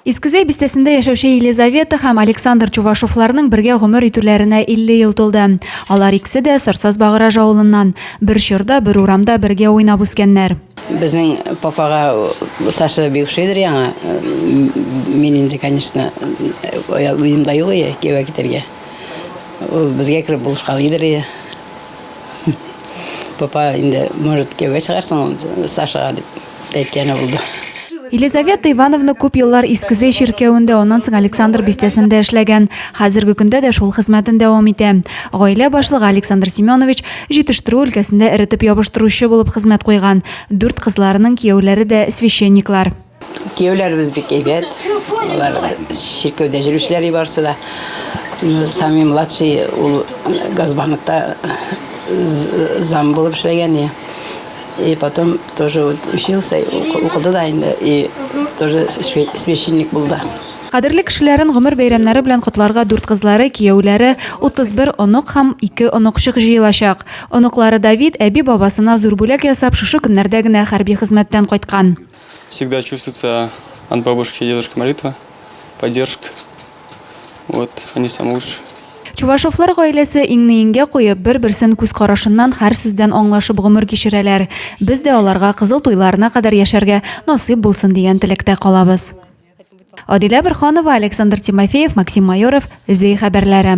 Искезәй бистәсендә яшәүче Елизавета һәм Александр Чувашовларның бергә гомер итүләренә 50 ел тулды. Алар икесе дә Сорсаз Багыраж авылыннан. Бер чорда, бер урамда бергә уйнап үскәннәр. Безнең папага Саша бик ошыйдыр яңа. Мин инде, конечно, уем да юк ие, кияүгә китәргә. Ул безгә кереп булышкалыйдыр ие. Папа инде, может, кияүгә чыгарсың Сашага дип. Тәтяне булды. Елизавета Ивановна күп еллар Искезе чиркәвендә, аннан соң Александр бистәсендә эшләгән. Хәзерге көндә дә шул хезмәтен дәвам итә. Гаилә башлыгы Александр Семенович җитештерү өлкәсендә эретеп ябыштыручы булып хезмәт куйган. Дүрт кызларының кияүләре дә священниклар. Кияүләребез бик әйбәт. Алар чиркәүдә җөрүчеләр и барсы да. Ну, Самый младший ул Газбаныкта з- зам булып эшләгән. и И потом тоже учился, укыды да инде, и тоже священник был, да. Кадерле кешеләрен гомер бәйрәмнәре белән котларга дүрт кызлары, кияүләре, 31 онык һәм ике оныкчык җыелачак. Оныклары Давид әби-бабасына зур бүләк ясап, шушы көннәрдә генә хәрби хезмәттән кайткан. Всегда чувствуется от бабушки и дедушки молитва, поддержка. Вот, они самые лучшие. Чувашовлар гаиләсе иңне иңгә куеп, бер-берсен күз карашыннан һәр сүздән аңлашып гомер кичерәләр. Без дә аларга кызыл туйларына кадәр яшәргә насыйп булсын дигән теләктә калабыз. Адилә Бирханова, Александр Тимофеев, Максим Майоров, Зей хәбәрләре.